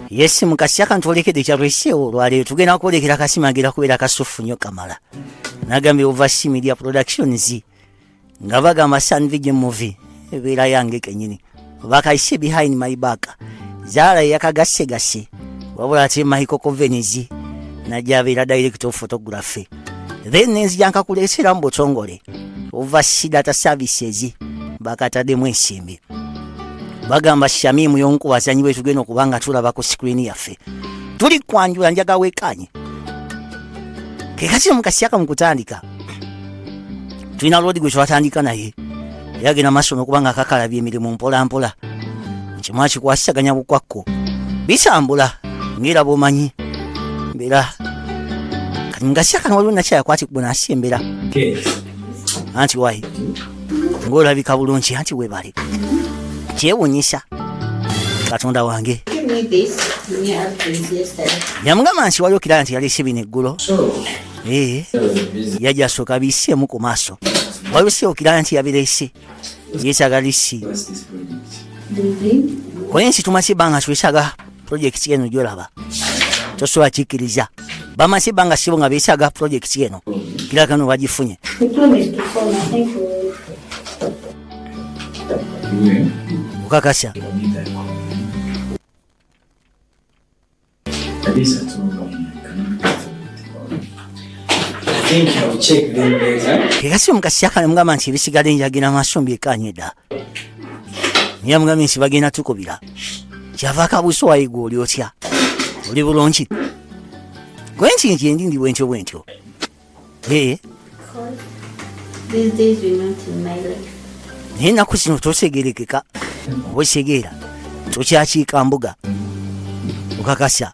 yesi mukasi akantu olekede kyalweseewo olwaleero tugenda kwolekera kasima agenda kubeera kasuffu nyo kamala nagambye ova si media productions nga bagamba sun vision movie ebeera yange kenyini bakaise behind my back zaala yeyakagasegase wabula ate maiko covenezi najabeera direct of photography then nenzija nkakuleesera mu butongole ova sidata services bakataddemu ensimbi bagamba shamimu yomu ku bazanyi bwe tugenda okuba nga tulaba ku sikrini yaffe tuli kwanjula njaga wekanye kekakino mukasiyaka mukutandika tulina loodi gwe twatandika naye era agenda maaso nokuba nga akakalabya emirimu mpolampola kimu akikwasisaganya bukwakko bitambula ngaera bwomanyi mbeera kati mugasya kano waliwo nakyayakwatibwa nasi embeera anti wayi ngaolabika bulungi anti webale kyewunyisa katonda wange yamugamba nti waliwo kiraa nti yalese bino eggulo Eh, yajja asooka abiiseemu ku maaso wabise okiraba nti yabireese yeetaaga lisi kuba ensi tumaze ebbanga twetaaga pulojekiti eno gyolaba tosobola kikkiriza bamaze ebbanga sibo nga beetaaga pulojekiti eno kiraga no bagifunye okakasa era si omukasyakana mugamba nti ebisigala enjagira maaso mbyekanye dda naye mugambye nti bagenda tukubira kyava akabuusi wayigwa oli otya oli bulungi gwe nti nti endi ndi bwentyo bwentyo Hey. These days you're not in my life. Naye ennaku zino tosegerekeka oba osegeera tokyakiika mbuga okakasa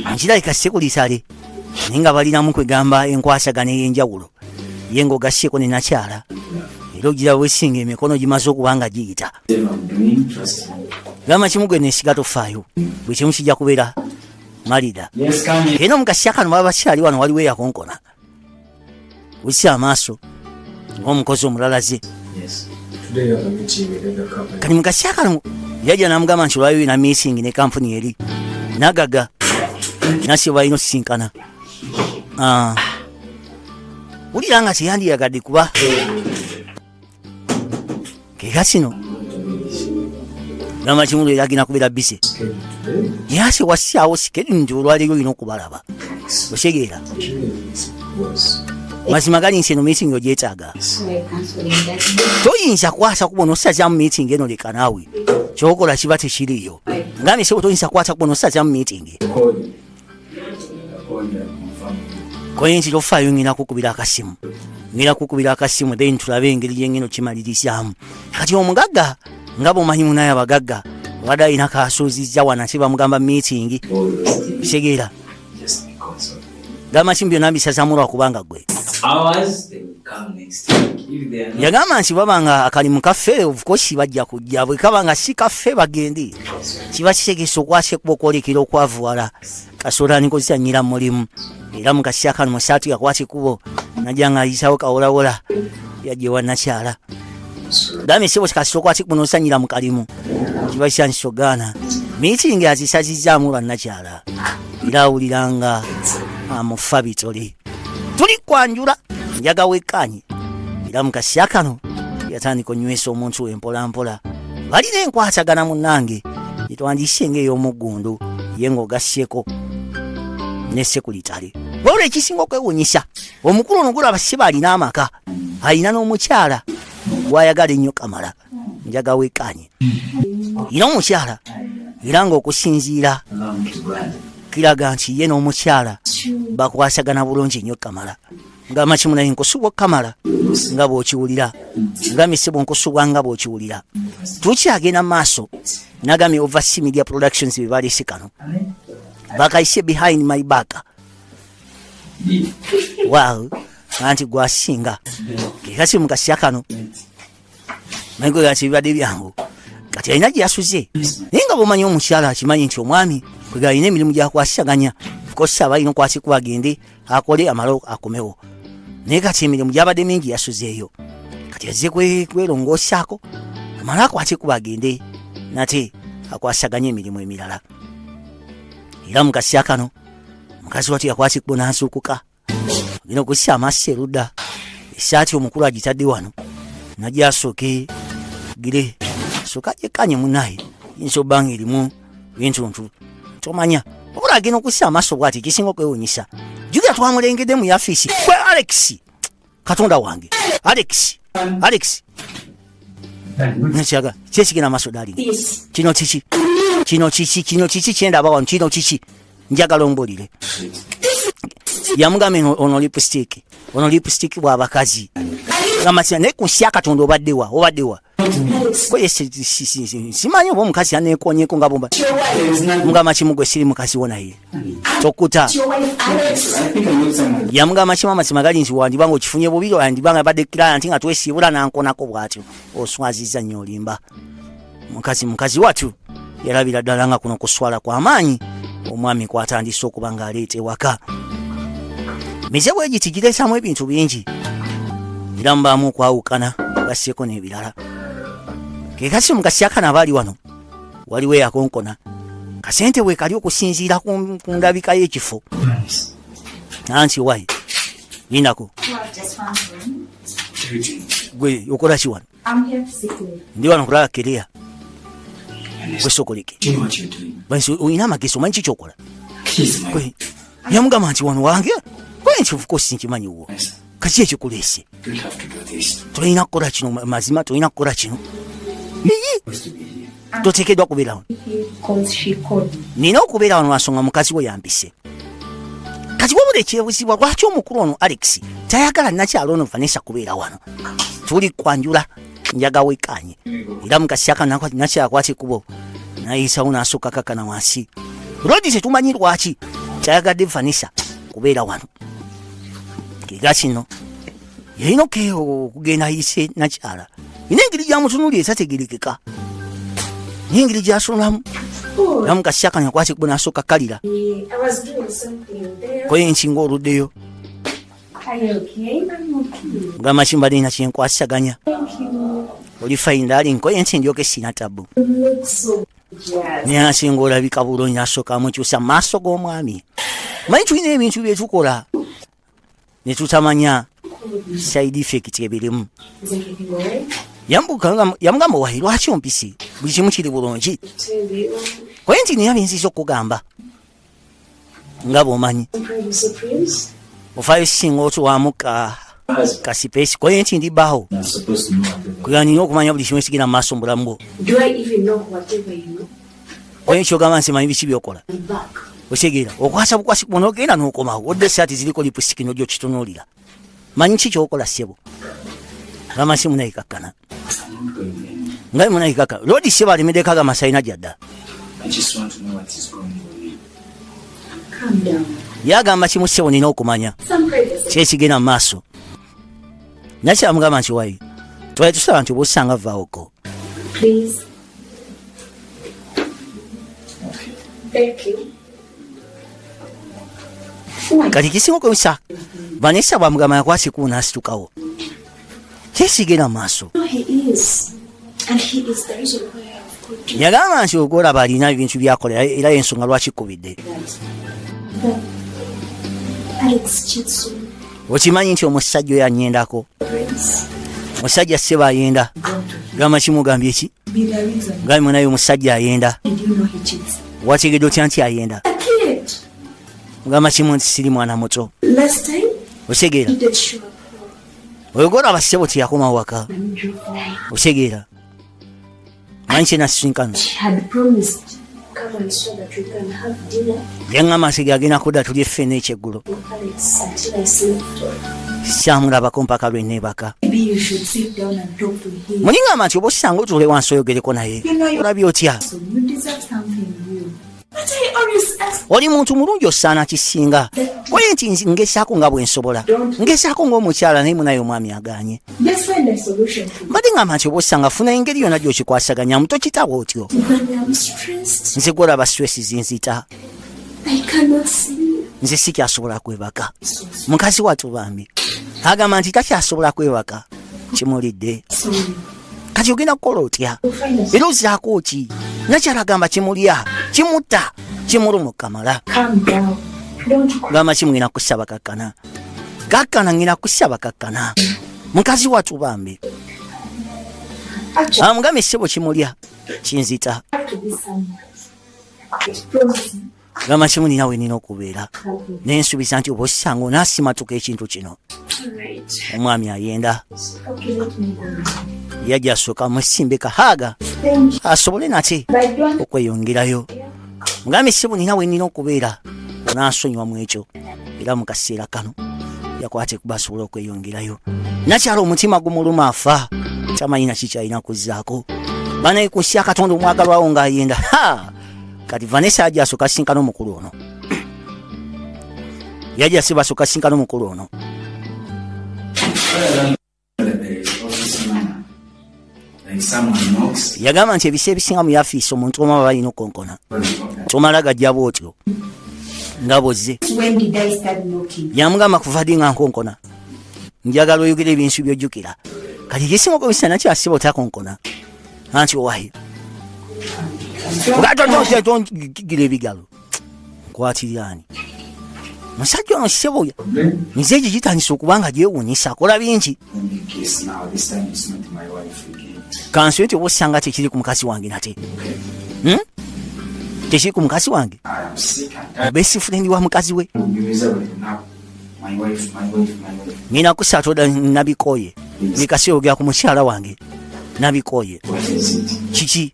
ankirabika sekulisale naye nga balinamu kwegamba enkwasagana ey'enjawulo ye ng'ogasseko ne nakyala era ogira wesinga emikono gimaze okuba nga giyita gamba kimu gwe nesiga tofaayo buli kimu kijja kubeera malida era omugasya kano baba bakyali wano waliwo eyakonkona wisi amaaso ngaomukozi omulalaze kati mugasya kano yajja namugamba nti olwayo ina missing ne kampuni eri nagaga nasi balina osisinkana ah. wulira nga teyandiyagadde kuba kega kino gamba kimu leero agenda kubeera bise yase wasaawo sikedi nti olwaleero olina okubalaba osegeera mazima gali nsi eno miitingi ogyetaaga toyinza kwasa kubona osazamu miitingi eno leka naawe kyokola kiba tekiriyo ngambi sebo toyinza kwasa kubona osazamu miitingi kwenzi lofaayo ngina kukubira akasimu ngina kukubira akasimu then tulabe engeri gyengeno kimalirizamu kati omugagga nga bwomanyi munaye abagagga obadde alina kasuuzizza wanasi bamugamba meetingi kitegeera gamba kimu byonna mbisazamu lwakubanga gwe yagamba nti baba nga akalimu kaffe obukosi bajja kujja bwe kaba nga si kaffe bagende kiba kitegesa okwasekwa okwolekera okwavuwala kasola nikozisanyira mulimu era mukasisa kano musaatu yakwata ekubo najja nga ayisawo kawolawola yajewa nakyala dami sibo kikasisa okwata ekubo nosanyira mukalimu kiba kisankisogaana miitingi azisazizaamu bannakyala era awuliranga amufa bitole tuli kwanjula njaga wekkaanye era mu kasya kano yatandika onywesa omuntu we mpolampola balina enkwatagana munnange gyetwandiyise ng'ey'omuggundu ye ng'ogasseko ne sekulitale wabula ekisinga okwewunyisa omukulu ono gulaba siba alina amaka alina n'omukyala gwayagala ennyo kamala njaga wekanye era omukyala era nga okusinziira kiraga nti ye n'omukyala bakwasagana bulungi nnyo kamala nga makimu naye nkusubwa okamala nga bwokiwulira nga misibu nkusubwa nga bwokiwulira tukyagenda mu maaso nagambye ova si media productions bebalese kano bakayise behind my back wow anti gwasinga kekasi mukasya kano naye gwe gati bibadde byangu kati alina gye yasuze naye nga bwomanyi omukyala akimanyi nti omwami kwega alina emirimu gyakwasisaganya kosi aba alina okwasikuba agende akole amalo akomewo naye kati emirimu gyabadde mingi yasuzeeyo kati azze kwelongoosaako amale akwasikuba agende nate akwasisaganya emirimu emirala era mukasya kano mukazi watu yakwasikuba nansuukuka Ngina kussa amaaso erudda. Esaati omukulu agitadde wano. Nagyasooke gire. Soka gyekanye munaye. Yinza obanga erimu bintuntu. Tomanya. Wabula agenda okussa amaaso bwati ekisinga okwewunyisa. Jukira twamulengedde mu yafiisi. Gwe Alex. katonda wange alex alex nekiraga kyesigena amaso dali kino kiki kino kiki kino kiki kyendaba wano kino kiki njagala ombulire yamugambye ono lipstick ono lipstick bwabakazi amasira naye kunsi ya katonda obaddewa obaddewa simanyi oba omukazi yanekonyeko nga bumba mugamba kimu gwe siri mukazi wo naye tokuta yamugamba kimu amazima gali nti wandiba nga okifunye bubi yandiba nga badde client nga twesiibula nankonako bwatyo oswaziza nnyo olimba mukazi mukazi watu yalabira ddala nga kuno kuswala kwa maanyi omwami kwatandise okuba ng'aleeta ewaka mize bwe giti gireetamu ebintu bingi era mubaamu okwawukana gasseeko n'ebirala ke kasi omugasi akana aba ali wano waliwo eyakonkona kasente bwe kali okusinziira ku ndabika y'ekifo nansi wayi yinako gwe okola ki wano Ndi wano kulaba kerea gwesokoleke olina amagezi omanyi kikyokola yamugamba nti wano wange kwenkivukoo sinkimanyi wo kaki ekikuleese tolina kukola kino mazima tolina kukola kino toteekeddwa kubeera wano nina okubeera wano lwansonga mukazi we yampise kati wabula ekyebuzibwa lwaki omukulu ono alex tayagala nakyalo ono vanessa kubeera wano tuli kwanjula njaga wekanye era mukasiaka nakyakwate kubo nayisawo nasooka kakana wansi rodi tetumanyi lwaki kyayagadde vanessa kubeera wano kiga kino yalina okugenda ayise nakyala ina engeri gyamutunuli etategerekeka naye engeri gyasulamu namu kasyakanya kwaki kuba nasooka kalira koye enkinga oluddeyo gamba kimba nina kyenkwasaganya oli fayinda ali nkoye nti ndyoka esina tabu nayasinga olabika bulungi nasooka amukyusa maaso g'omwami manyi tulina ebintu byetukola ne tutamanya side effect ebirimu yamugamba wayi lwaki ompisi buli kimu kiri bulungi koye nti niyo binziza okugamba nga bwomanyi ofayo singa otuwamu ka kasipesi koye nti ndi bawo kuyanina okumanya buli kimu ekigira mu maaso mu bulamu bwo Oyo kyogamba nsimanyi biki byokola. Okitegera okwasa bukwasi kubona ogenda n'okomawo odde esaati ziriko lipusitiki n'ojja okitunuulira. Manyi ki kyokola ssebo. Abamansi munayikakkana. Nga munayikakka. Loodi ssebo alemedeko aga masayina gyadda. Yagamba kimu ssebo nina okumanya. Kyekigenda mu maaso. Nakyamugamba nti wayi. Twali tusaba nti obusanga vvaawoko. Please. Thank you. kati kisinga okusa vanessa bwamugamba nakwasikuwo nasitukawo kyesigera maaso yagamba nti ogolaba alina ebintu byakolera era yensonga lwakikubidde okimanyi nti omusajja oyo anyendako musajja seba ayenda gamba kimugambye ki ngambi munaye omusajja ayenda wategedde otya nti ayenda mugamba kimu nti siri mwana muto otegeera oyogora abasebo teyakoma waka otegeera manyi kyenasisinkano yaŋama sigi agenda kudda tulye ffe n'ekyeggulo sikyamulabako mpaka lwe neebaka muliŋama nti oba osanga otule wansi oyogereko naye olabye otya oli muntu mulungi osaana kisinga koye nti ngesaako nga bwensobola ngesaako ngaomukyala naye munaye omwami aganye mbadde ngamba nti oba osanga funa engeri yona gyokikwasaganyamu tokitaba otyo nze gwolaba stress zinzita nze sikyasobola kwebaka mukazi watu bambi agamba nti takyasobola kwebaka kimulidde kati ogenda kukola otya era ozaako ki nakyala agamba kimulya kimutta kimulumu kamala gamba ki mugenda kusaba kakkana kakkana ngenda kusaba kakkana mukazi watu bambi amugambye ah, sebo kimulya kinzita gamba kimu nina wenina okubeera naye nsuubiza nti oba osanga onaasimatuka ekintu kino omwami ayenda yajja asooka mwesimbe kahaaga asobole nate okweyongerayo mugambe sibu nina wenina okubeera onaasonyiwa mu ekyo era mu kaseera kano yakwate kuba asobole okweyongerayo nakyala omutima gumuluma afa tamanyi naki kyalina kuzzaako banaye ku nsi ya katonda omwagalwawo ng'ayenda ha kati vanessa aja asoka sinkana omukulu ono yaja siba asoka sinkana omukulu ono yagamba nti ebisa ebisinga mu yafiisi omuntu omu aba balina okukonkona tomala gajja bwotyo nga bozze yamugamba kuva di nga nkonkona njagala oyogera ebinsu byojjukira kati gyesimako bisana kyasiba otakonkona anti owahi ngatongira ebigalo nkwatirirani musajja ono seboya nze egyo gitandisa okuba nga gyewunyisa akola bingi kansi nti oba osanga tekiri ku mukazi wange nate hmm? tekiri ku mukazi wange obesifurendi wa mukazi we nina kusatoda nabikoye nikasi ogera ku mukyala wange nabikoye kiki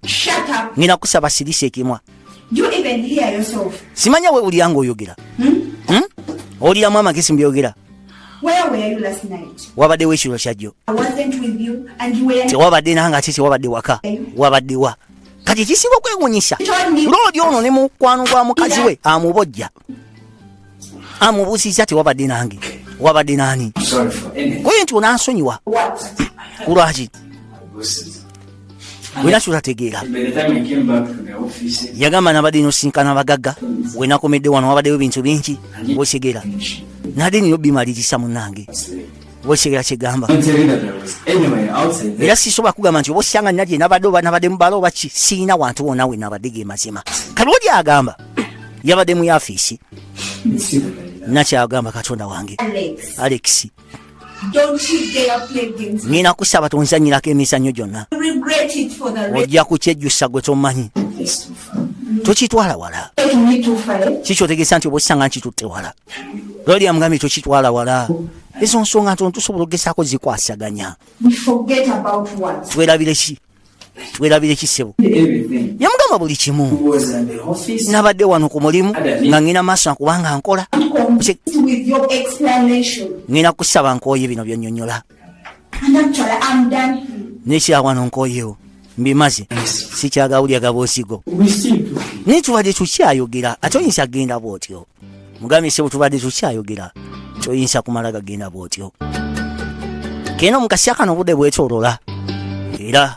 nina kusaba sirisa ekimwa simanya wewulira nga oyogera hmm? hmm? oliramu amagezi mbyogera wabaddewo ekiro kyajjo tewabadde nanga ate tewabadde waka wabaddewa kati ekisinga okwewunyisa loodi ono ne mukwano gwa mukazi we amubojja amubuuziza ti wabadde nange wabadde nani kwe nti onansonyiwa kulwaki wena kyotategeera yagamba nabadde nosinkana bagagga wenakomedde wano wabaddewo ebintu bingi okigeera nade nino bimaliriza munange wekitegera kyegamba era sisobola kugamba nti oba osanga nalye nabadde oba nabadde mubala oba ki siina wantu wona we nabadde ge mazima kalwoli agamba yabadde mu yafiisi nakyagamba katonda wange alex nina kusaba tonzanyirako emizanyo gyonna ojja kukyejjusa gwe tomanyi tokitwala wala kikyotegesa nti oba osanga nkitutte wala lwali amugambye tokitwala wala ezo nsonga ntono tusobola okugezaako zikwasaganya twerabire ki twerabire ki ssebo yamugamba buli kimu nabadde wano ku mulimu nga ŋina maaso nakubanga nkola ŋina kusaba nkooye bino byonyonyola nekyawano nkoyewo mbimaze sikyagawulya gabosigo naye tubadde tukyayogera ate oyinza kugenda bwotyo mugambye sebo tubadde tukyayogera kyoyinza kumala gagenda bwotyo kena omukasya kano obudde bwetolola era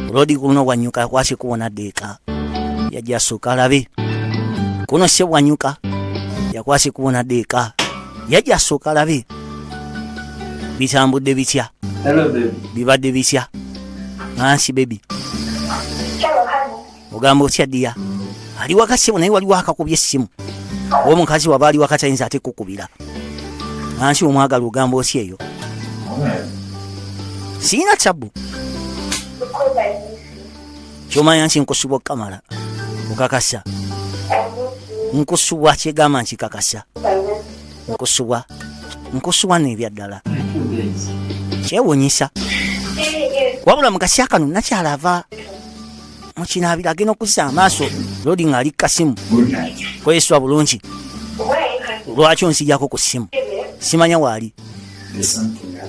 olodi kuno bwanyuka kwasi kuwona deeka yajja suka alabe kuno se bwanyuka yakwasi kuwona deeka yajja suka alabe bitambudde bitya bibadde bitya nansi bebi ogamba otya diya ali wakasimu naye waliwo akakubya essimu oba omukazi waba ali wakatayinza ate kukubira nansi omwagala ogamba otya eyo siyina tabu kyomanya nti nkusubwa okukamala okakasa nkusubwa kyegamba nkikakasa nkusubwa nkusubwa n'ebyaddala kyewunyisa wabula mukasya kano nakyala ava mukinaabira agenda okuzisa amaaso lodi ng'ali kukasimu kweyeswa bulungi lwaki onsijako ku simu simanya waali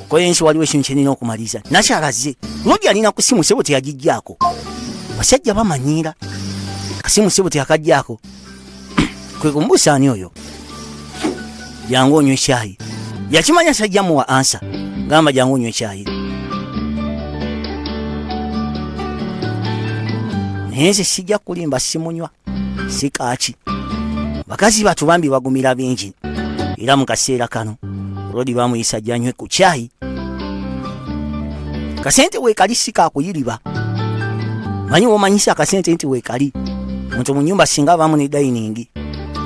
kweyensi waliwo ekintu kyenina okumaliriza nakyalaze lodi alina ku simu sebo teyagijjaako basajja bamanyiira kasimu sebo teyakajjaako kwe kumubuusa ani oyo jangu onywa ekyayi yakimanya sajja muwa ansa gamba jangu onywa ekyayi naye nze sijja kulimba simunywa sikaaki bakazi batu bambi bagumira bingi era mu kaseera kano rodi bamuyisa janywe ku kyayi kasente wekali sikakuyiriba manyi womanyisa akasente nti wekali muntu munyumba singa abamu ne dayiningi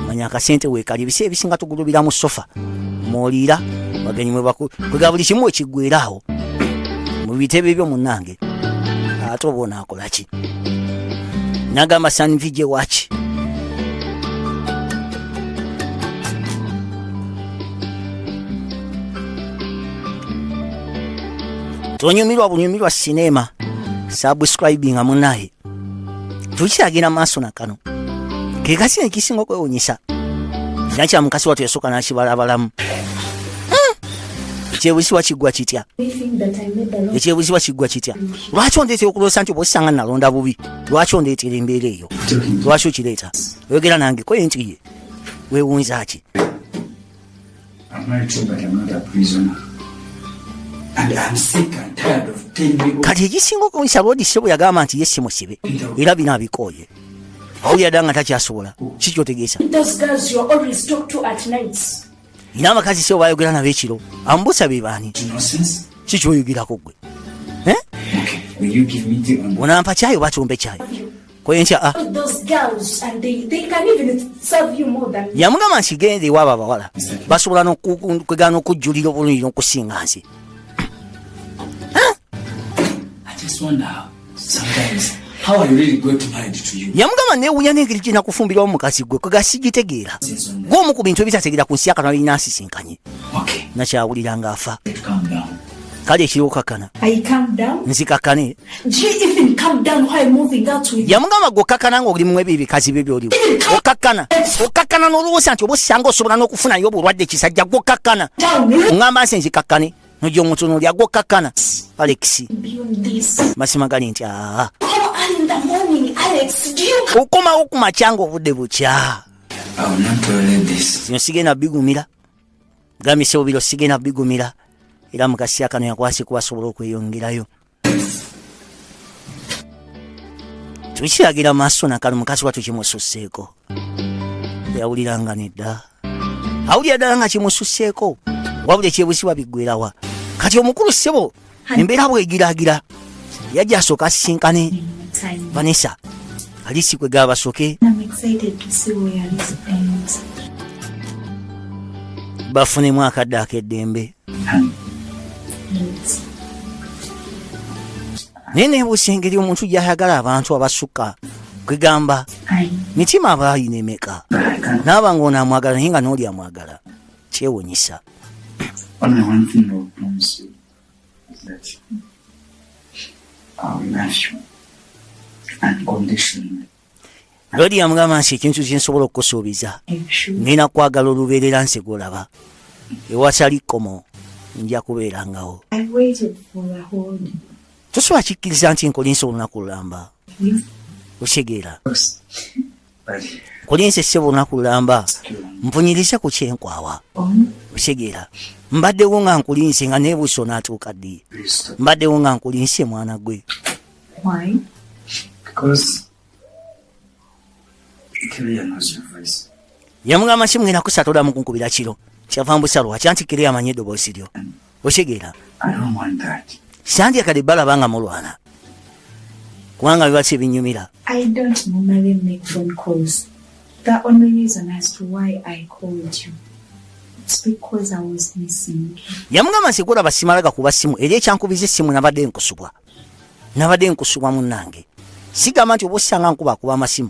manya akasente wekali ebisi ebisinga tugulubira mu sofa mwoliira bagenyi mwebakwe kwega buli kimu ekigwera awo mu bitebe byo munange ate oba onaakolaki nagamba sanvije waki tonyumirwa bunyumirwa sinema subscribinga munaye tukyagenda maaso na kano ke kasi ekisinga okwewunyisa nakya mukasi watu yasooka n'akibalabalamu hmm. ekyebuzibwa kiggwa kitya ekyebuzibwa kiggwa kitya lwaki ondeetera okuloosa nti obosanga nalonda bubi lwaki ondeetera embeera eyo lwaki okireeta oyogera nange koye nti ye wewunza ki kati egisinga okunsaba odise bwe yagamba nti ye si musibe era bino abikooye awulira dda nga takyasobola si kyotegeesa nina abakazi sebo bayogera nabo ekiro ambusa be baani si kyoyogerako gwe eh? onampa kyayo bakyombe kyayo Kwa hiyo ah. Those girls and they they can even serve you more than. Yamugamba nsigende iwabo abawala. Basobola no kwegana okujulira obulungi no kusinga nsi. I just wonder how sometimes how are you really going to mind to you. Yamugamba ne uya nengeri kina kufumbira omukazi gwe kwa sigitegeera. Gwo mu ku bintu ebitategeera ku nsi yakana binansi sinkanye. Okay. Nakyawulira nga afa. Calm down. kale ekiriwokakana nzikakane yamugamba gwe okakana nga olimu ebyo ebikazi bye byoliwo okakana okakana n'olowooza nti oba osanga osobola n'okufunayo obulwadde kisajja gwe okakana ŋamba nsi nzikakane nojo omuntu noli agwokkakkana alex masima gali nti aa okomawo ku makyanga obudde bukya zino sigenda bigumira Gambye sebo biro sigena bigumira era mu kaseera kano yakwasi kuba asobola okweyongerayo tukiragira maaso nakano mukazi watu kimususseeko yawuliranga nedda awulira ddala nga kimususseeko wabula ekyebuzibwa biggwerawa kati omukulu ssebo embeera bwegiragira yajja asooka asisinkane vanessa alisi kwe gabasoke bafunemu akadde akeddembe naye nebuusa engeri omuntu gyayagala abantu abasukka kwegamba mitima abaayina emeka naaba ngaonaamwagala naye nga nooli amwagala kyewunyisa lodi yamugamba nsi ekintu kyensobola okukusuubiza nina kwagala olubeerera nsi gwolaba ewasali kkomo nja kubeerangawo tosobola kikkiriza nti nkolinsa olunaku lulamba osegeera kulinze ssebo olunaku lulamba mpunyirize ku kyenkwawa otegeera mbaddewo nga nkulinze nga nebuusa onaatuuka ddi mbaddewo nga nkulinze mwana gwe yamugamba kimwera kusatolamu kunkubira kiro kyava mbusalwa kyantikire amanyi eddoboosi lyo okitegeera sandya kade balaba nga mulwana kubanga biba si ebinyumira The only reason as to why I called you yamugamba nti gula basimala gakuba simu eri ekyankubiza essimu nabadde nkusubwa nabadde nkusubwa munange sigamba nti oba osanga nkuba akuba amasimu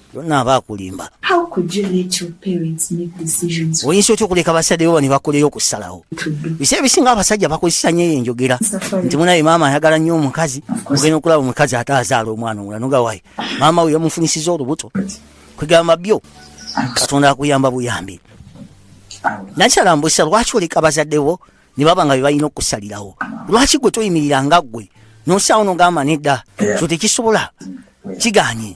yonna aba akulimba oyinza otya okuleka basajja bo bane bakoleyo okusalawo bisi ebisinga abasajja bakozesa nyo eyo enjogera nti munaye maama ayagala nnyo omukazi ogenda okulaba omukazi ate azaala omwana omulano nga wayi maama we yamufunisiza olubuto kwegamba byo katonda akuyamba buyambi nakyalambusa lwaki oleka bazadde bo ne baba nga bebalina okusalirawo lwaki gwe toyimirira nga ggwe nosaawo nogamba nedda so tekisobola kiganye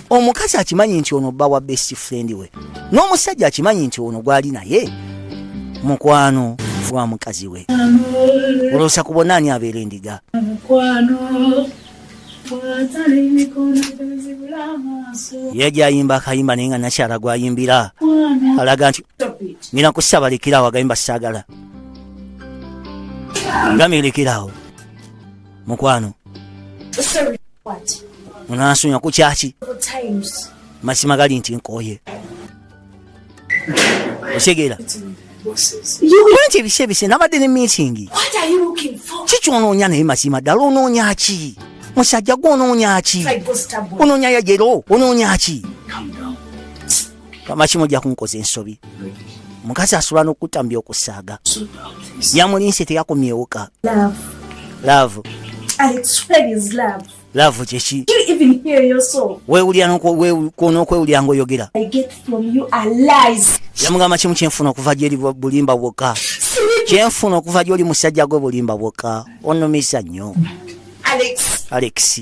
omukazi akimanyi nti ono bba wa best friend we n'omusajja akimanyi nti ono gwali naye mukwano gwa mukazi we oloosa kubona ani abeera endiga ye gyayimba akayimba naye nga nakyala gwayimbira alaga nti nina kusabalekerawo agayimba sagala ngamirekerawo mukwano onansunya ku kyaki mazima gali nti nkooye otegeera anti ebise ebise nabadde ne miitingi ki kyonoonya naye mazima ddala onoonya ki musajja gwe onoonya ki onoonya yajero onoonya ki lwamaki mujja kunkoza ensobi mukazi asula nokutta mbi okusaaga yamulinse teyakomyewoka love love kyeki wewulira nokwewulira ngaoyogera yamugamba kimu kyenfuna okuva gyeri bulimba bwokka kyenfuna okuva gyoli musajja gwe bulimba bwokka onumisa nnyo alex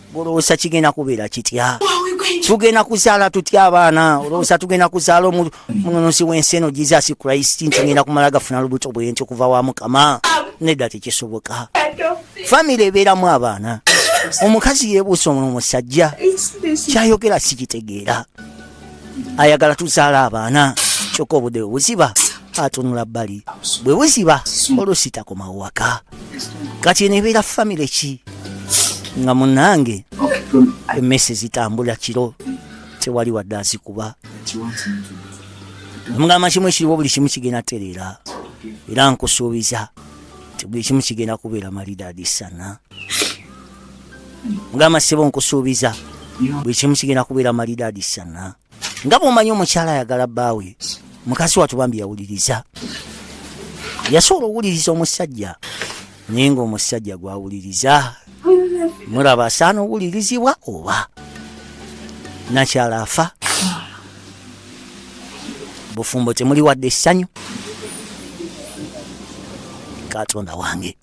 Olowooza kigenda kubeera kitya? Tugenda kuzaala tutya abaana? Olowooza tugenda kuzaala omununuzi w'ensi eno Jesus Christ nti ngenda kumala gafuna lubuto bwe nti okuva wa Mukama? Nedda, tekisoboka. Famire ebeeramu abaana. Omukazi yeebuusa omusajja kyayogera sikitegeera. ayagala tuzaala abaana kyokka obudde bwe buziba atunula bbali bwe buziba oluusi takoma waka kati nebeera famire ki nga munange emese zitambula kiro tewali wadde azikuba omugamba kimu ekiriwo buli kimu kigenda tereera era nkusuubiza nti buli kimu kigenda kubeera malidaadi sana mugamba sebo nkusuubiza buli kimu kigenda kubeera malidaadi sana nga bwomanyi omukyala ayagala bbaawe mukazi watu bambi yawuliriza yasobola owuliriza omusajja naye nga omusajja gwawuliriza muraba asaana owulirizibwa oba nakyala afa bufumbo temuli wadde essanyu katonda wange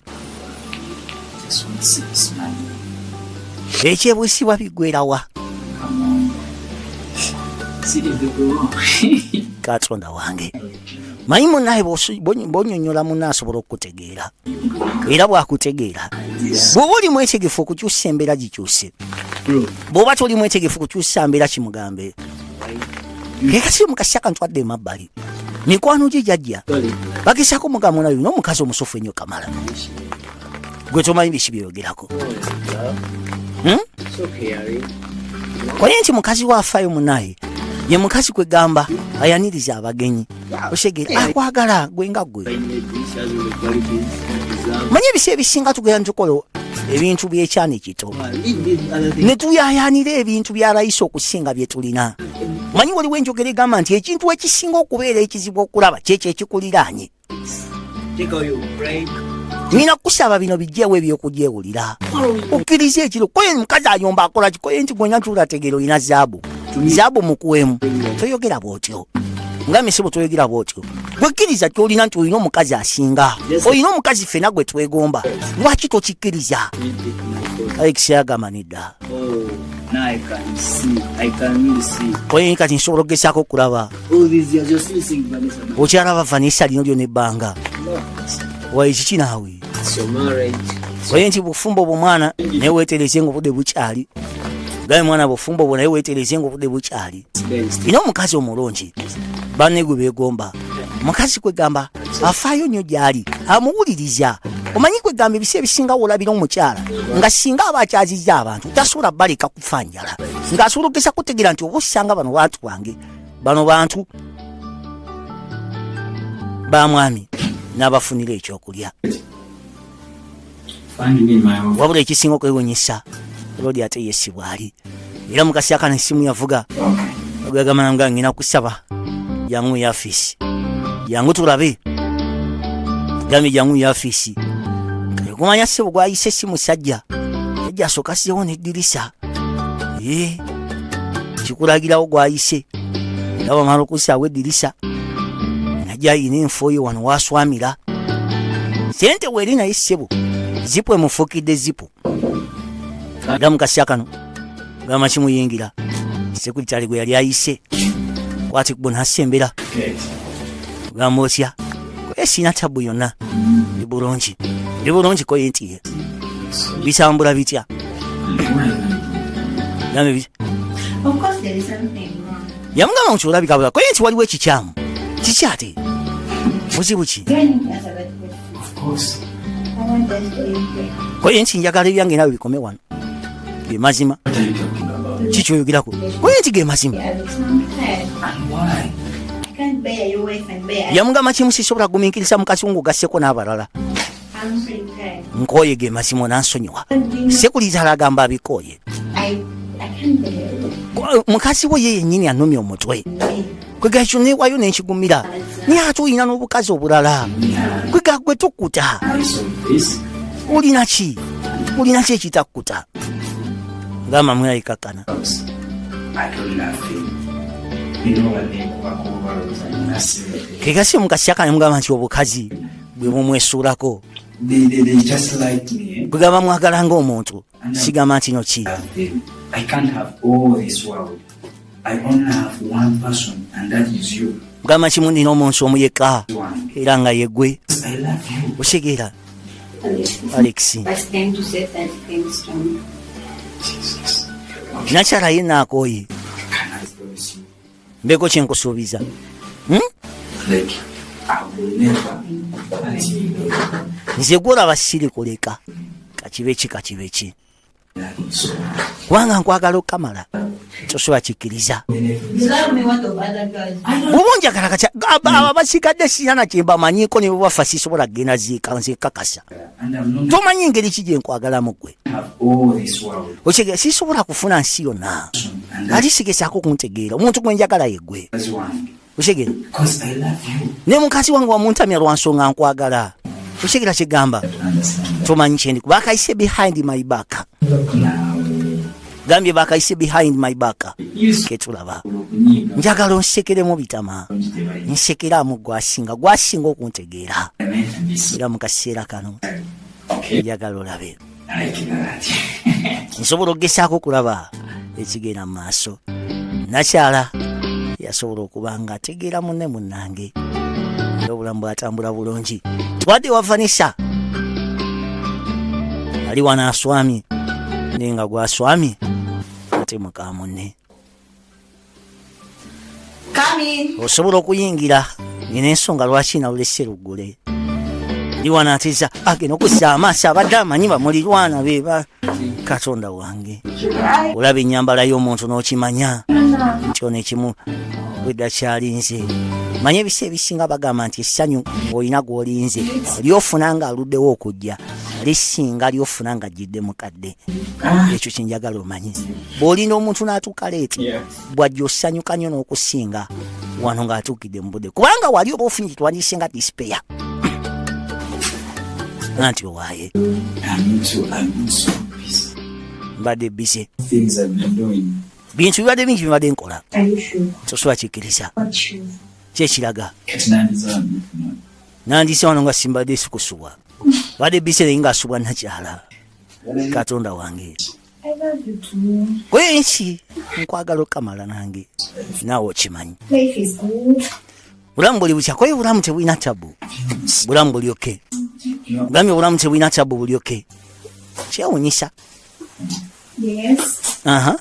ekyebusibwa bigwerawa katonda wange mayi munaye bonyonyola muna asobola okutegera bwakutegeera era bwakutegeera bwoba oli mwetegefu okukyusa embeera gikyuse bwoba toli mwetegefu kukyusa mbeera kimugambe ekasiri mukasi akantu adde emabbali mikwano gye jajja bagezaako mugambo nayo n'omukazi omusufu ennyo kamala gwe tomanyi biki byeyogerako hmm? oye nti mukazi waafayo munaye ye mukazi kwegamba ayaniriza abagenyi oshegere akwagala gwe nga gwe manye ebisi ebisinga tugenda ntukola ebintu byekyana ekito netuyayanira ebintu byalayisa okusinga byetulina manyi waliwo enjogera egamba nti ekintu ekisinga okubeera ekizibu okulaba kyekyo ekikuliraanye nina kusaba bino bijewo ebyokujewulira okkiriza ekiro koye mukazi ayomba akola kikoye nti gwenya tulategera olina zaabu zabu mukuwemu toyogera bwotyo nga misibo toyogera bwotyo gwekkiriza kyolina nti olina omukazi asinga olina omukazi fena gwe twegomba lwaki tokikkiriza ekisagamba nedda oyo kati nsobola okugezaako okulaba okyalaba vanessa lino lyona ebbanga waekiki naawe oye nti bufumbo obwo mwana naye wetereze nga obudde bukyali gaye mwana bufumbo obwo naye wetereze nga obudde bukyali ina omukazi omulungi banegwe begomba mukazi kwegamba afaayo nnyo gyali amuwuliriza omanyi kwegamba ebisi ebisinga wolabira omukyala nga singa aba akyazizza abantu tasobola baleka kufa njala ng'asobola okugesa kutegeera nti oba osanga bano bantu bange bano bantu ba mwami n'abafunira ekyokulya wabula ekisinga okwewunyisa lodi ate yesi bwali era mukasi akana esimu yavuga ogagamba nga ngina kusaba jangu yafiisi jangu tulabe gambye jangu yafiisi kumanya sebo gwayise si musajja yajja asooka siyewo neddirisa eh, kikulagirawo gwayise era wamala okusaawo edirisa najja ayina enfo ye wano waswamira sente weeri naye ssebo zipu emufukidde zipu aga mukasya kano gamba kimuyingira sekuritale gwe yali ayise kwati kubonasembera gamba otya kwesinatabu yonna ndi bulungi ndi bulungi koye nti bitambula bitya yamugamba nti olabikabula koye nti waliwo ekikyamu kiki ate buzibu ki koye nti njagala ebyange nawe bikome wano gemazima kikyoyogerako koye nti gemazima yamugamba kimu sisobola guminkiriza mukazi wo ngaogasseko n'abalala nkooye ge mazima onansonyiwa sekuliza alagamba abikooye mukazi we ye yennyini anumya omutwe kwegakyo newayo nenkigumira naye ate olina n'obukazi obulala kwega gwe tukkuta olina ki olina ki ekitakkuta gamba mweyayikakkana kegasi mukasiyakana mugamba nti obukazi bwe mumwesuulako bwegamba mwagala ngaomuntu sigamba nti no ki gamba kimu nina omuntu omu yekka era nga yegwe osegeera alex nakyala ye naakoye mbeko kyenkusuubiza hmm? nze gwolaba siri kuleka kakibe ki kakibe ki kubanga nkwagala okukamala tosobola kikkiriza oba onjagala katya abasigadde ah, siyana kyembamanyiko nebwebafa sisobola kugenda ziika nzekakasa tomanyi engeri ki gyenkwagalamu gwe okitegeera sisobola kufuna nsi yonna ali sigesaako okuntegeera omuntu gwe njagala yegwe okitegeera naye mukazi wange wamuntamya lwa nsonga nkwagala okitegeera kyegamba tomanyi kyendi bakayise behind my back gambye bakayise behind my back ketulaba njagala onsekeremu bitama nsekeramu gwasinga gwasinga okuntegeera era mu kaseera kano njagala olabe nsobola okugesaako okulaba ekigenda mu maaso nakyala yasobola okuba nga ategeera munne munnange era obulamu bwatambula bulungi twadde wa vanisa ali wano aswami naye nga gwaswami ate muka munne osobola okuyingira nina ensonga lwaki nawule seruggule ndiwanatiza agenda okuzza amaaso abadde amanyi bamulirwana beba katonda wange olaba enyambala y'omuntu n'okimanya kyona ekimu bwedda kyalinze manya ebisa ebisinga bagamba nti essanyu olina gwolinze lyofuna nga aluddewo okujja lisinga lyofuna nga jjidde mukadde Ah. ekyo kyenjagala omanye bw'olina omuntu n'atuuka leeti bwajja osanyuka nnyo n'okusinga wano ng'atuukidde mu budde kubanga wali oba ofunye kitwandise nga disipeya anti owaaye mbadde bise bintu bibadde bingi bibadde nkola sosobola kikkiriza kyekiraga nandise wano nga simbadde sikusubwa badde bise naye ngaasubwa nakyala katonda wange kwenki nkwagala okamala nange naawe okimanyi bulamu buli bukya kwaye bulamu tebulina tabu bulamu buli oke bulamu obulamu tebulina tabu buli oke kyewunyisa aha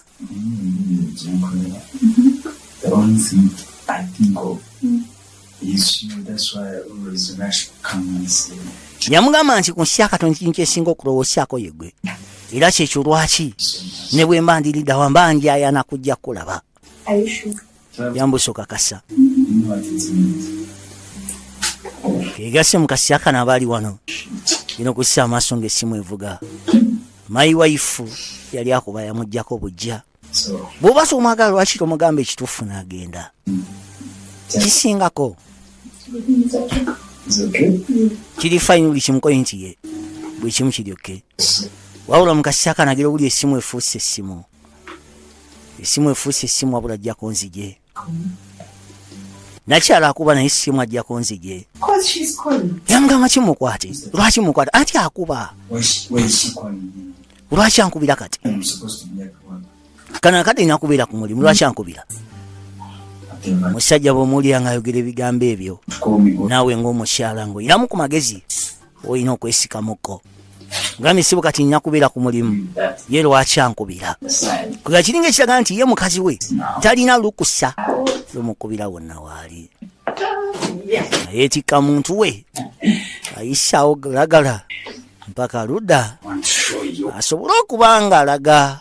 yamugamba nti ku nsi ya katonda ekintu kyesinga okulowoosyako yegwe era kyekyo lwaki ne bwe mba ndiriddawa mba njayana kujja kulaba yambusa okakasa kegase mukasya kano aba ali wano ina okussa amaaso ng'essimu evuga mayi waifu yali akuba yamugjako bujja bwoba somwagala lwaki tomugamba ekituufu n'agenda kisingako kiri fayini buli kimukoye nti ye buli kimu kiryokke wabula mukasya kanagira obuli essimu efuuse essimu esimu efuuse esimu abula ajjako nzije nakyala akuba naye simu ajjako nzije yamugamba kimukwate lwaki mukwate anti akuba lwaki ankubira kati kano akadde ina kubeera ku mulimu lwaki ankubira musajja bwomuwulira ngaayogera ebigambo ebyo naawe ngaomukyala ngaoyinamu ku magezi olina okwesikamuko nga misibu kati nina kubeera ku mulimu ye lwaki ankubira kubira kiringa ekiraga nti ye mukazi we talina lukusa lomukubira wonna waali ayeetikka muntu we ayisaawo lagala mpaka ludda asobole okuba nga alaga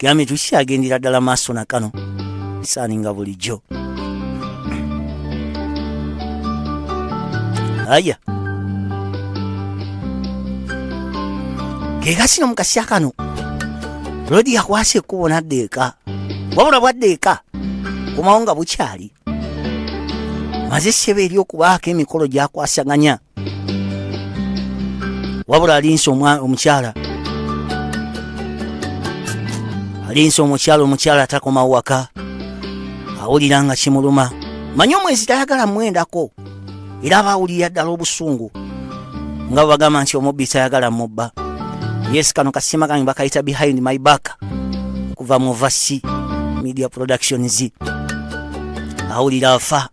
gambye tukikyagendera ddala maaso na kano saaninga bulijjo aya gegasi no mukasya kano lodi yakwasa ekkubo nadda eka wabula bwadda eka komawo nga bukyali maze ssebe eri okubaako emikolo gyakwasaganya wabula alinsi omukyala alinsi omukyala omukyala atakoma waka awulira nga kimuluma manyi omwezi tayagala mwendako era aba awulira ddala obusungu nga bwebagamba nti omubbi tayagala mubba yes kano kasima kange bakayita behind my back okuva mu vasi media productions awulira afa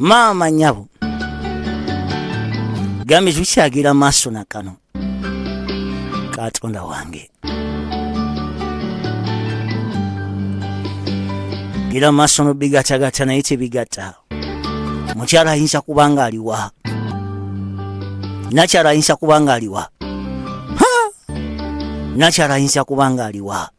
maama nyabo gambye tukyagira maaso na kano katonda wange gira maaso nobigatagata naye tebigata mukyala ayinza kuba nga aliwa nakyala ayinza kuba nga aliwa Ha! nakyala ayinza kuba nga aliwa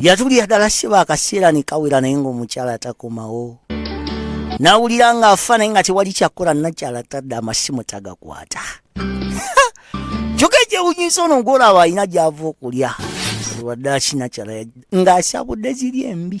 yatulira ddala siba akaseera ne kawera naye ng'omukyala atakomawo n'awulira ng'afa naye nga tewali kyakkola nakyala tadde amasimu tagakwata kyoka ekyewunyisa ono ng'olaba alina gy'ava okulya lwadde akinakyala ng'asabudde ziri embi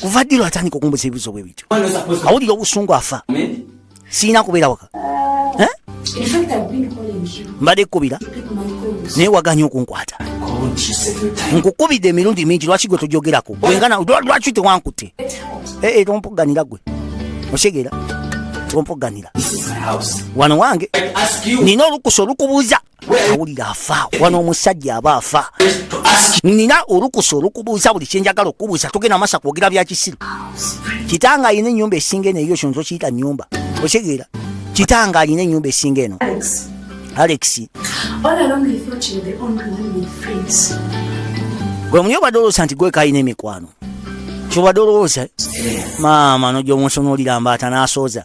kuva ddi lwatandika okumbuza ebibuzo bwe bityo awulira obusungu afa siina kubeera waka eh? mbadde kukubira naye waganya okunkwata nkukubidde emirundi mingi lwaki gwe tojogerako wengana lwaki tewankutte eh, eh, tompuganira gwe okitegera tompuganira wano wange nina olukusa olukubuuza awulira afa wano omusajja aba afa nina olukusa olukubuuza buli kyenjagala okubuuza togenda masa kwogera byakisiru kitanga alina enyumba esinga eno eyo kyonza okiyita nyumba okitegeera kitanga alina enyumba esinga eno alex gwe muli obadde olowooza nti gweka alina emikwano kyobadde olowooza maama nojomunsonolira mbaata nasooza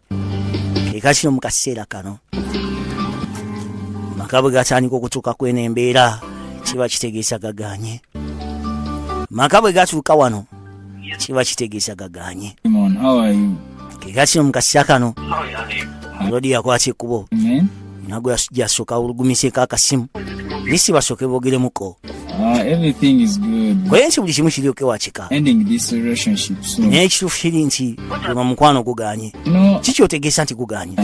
eka kino mu kaseera kano maka bwe gatandika okutuuka kweno embeera kiba kitegeesa gaganye maka bwe gatuuka wano kiba kitegeesa gaganye keka kino mu kaseera kano lodi yakwata ekkubo nagwe yasoka awulugumiseko akasimu nisi basoke bogeremuko ah, kwensi buli kimu kiryoke wakika naye ekituufu kiri nti ema mukwano guganye kiki otegeesa nti guganye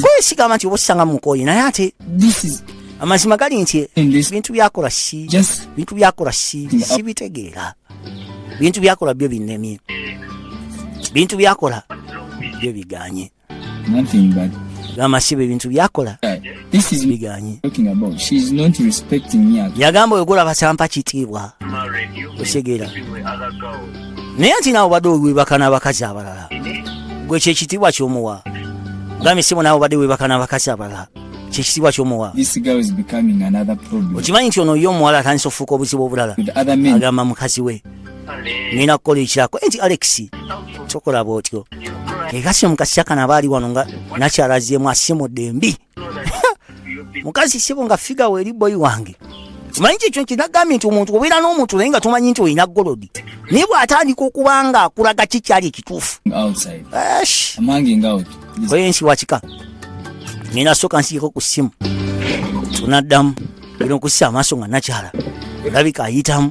kwesigamba nti oba osanga mukoye naye ate amazima gali nti bintu byakola si bintu byakola si sibitegeera bintu byakola byo binemye bintu byakola byo biganye gamasibe ebintu byakola biganye yagamba oyogula basampa kitiibwa osegeera naye nti naawe obadde owebaka n'abakazi abalala gwe kyekitiibwa kyomuwa gambe sibo naawe obadde webaka n'abakazi abalala kyekitiibwa kyomuwa okimanyi nti ono ye omuwala atandisa ofuuka obuzibu obulala agamba mukazi we ngenda kukola ekirako nti alex tokola bwotyo egasi omukazi kyakana aba ali wano nga nakyalaziemu asimudde mbi mukazi sibo nga figa weeri boyi wange manyi kyekyo nti nagambye nti omuntu obeera n'omuntu naye nga tomanyi nti olina golodi naye bw'atandika okuba nga akulaga ki kyali ekituufu oyo ensi wakika nina soka nsiiko ku ssimu tunaddamu Bino kussa amaaso nga nakyala olabika ayitamu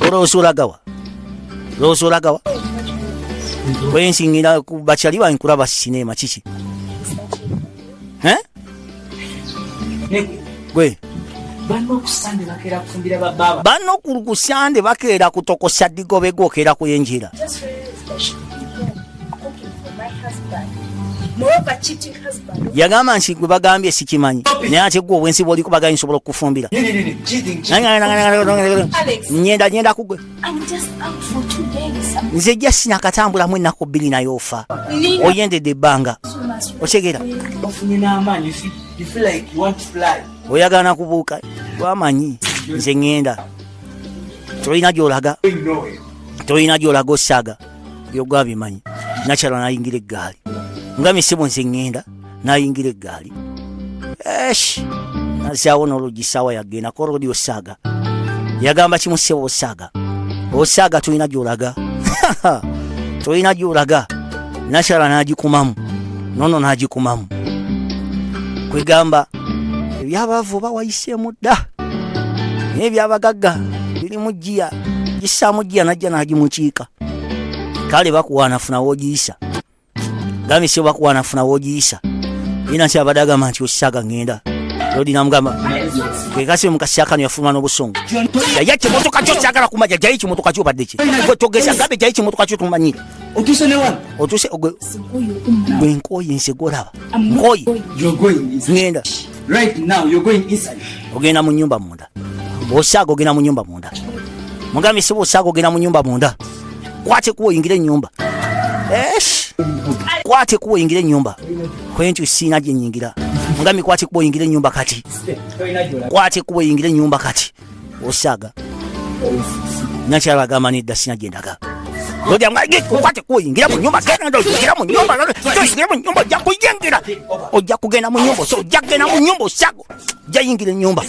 olowooza olagawa olowooza olagawa wensingira bakyali bange kulaba sineema kiki gwe banno ku kusande bakeera kutokosa digobe gwokeera kuyenjira yagamba nti gwe bagambye sikimanyi naye ate gwe obwensi bwoliko bagambye nsobola okukufumbira nyenda nyenda kugwe nze jasi nakatambulamu ennaku bbiri naye ofa oyendedde ebbanga otegera oyagala nakubuuka wamanyi nze ŋenda tolina gyolaga tolina gyolaga osaaga byoga abimanyi nakyala nayingira eggaali nga misebo nze ŋŋenda nayingira eggaali esh nazaawo n'oluggi saawa yagenda korodi osaaga yagamba kimu sebo osaaga osaaga tulina gyolaga tulina gyolaga nakyala n'agikumamu nono n'agikumamu kwegamba ebyabaavu oba wayiseemu dda naye ebyabagagga biri mu giya gisaamu giya najja nagimukiika kale bakuwaanafuna wogiyisa gambye sio bakuwaanafuna wogiyisa ina nti abadde agamba nti osisaaga ngenda lodi namugamba kekasi mukasi akano yafuluma n'obusungu yaya kimotoka kyo kyagala kumaja jayi kimotoka kyo badde ki gwe togeza gambe jayi kimotoka kyo tumanyire otuse ogwe gwe nkooyi nsi gwolaba nkoyi ngenda ogenda mu nyumba munda bwosaaga ogenda mu nyumba munda mugambye si bwosaaga ogenda mu nyumba munda kwate kuwa oyingire enyumba kwate kuwa oyingire enyumba kwentu siina gyenyingira mugambye kwate kuwa oyingire enyumba kati kwate kuwa oyingire enyumba kati osaaga nakyala agamba nedda sina gyendaga oyingira munyumba genda oyingira munyumba oyingira munyumba ojja kuyingira ojja kugenda munyumba osa ojja kugenda munyumba osago ojja yingira enyumba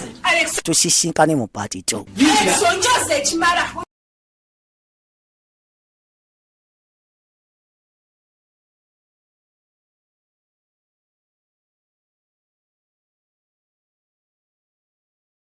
tusisinkane mu paati to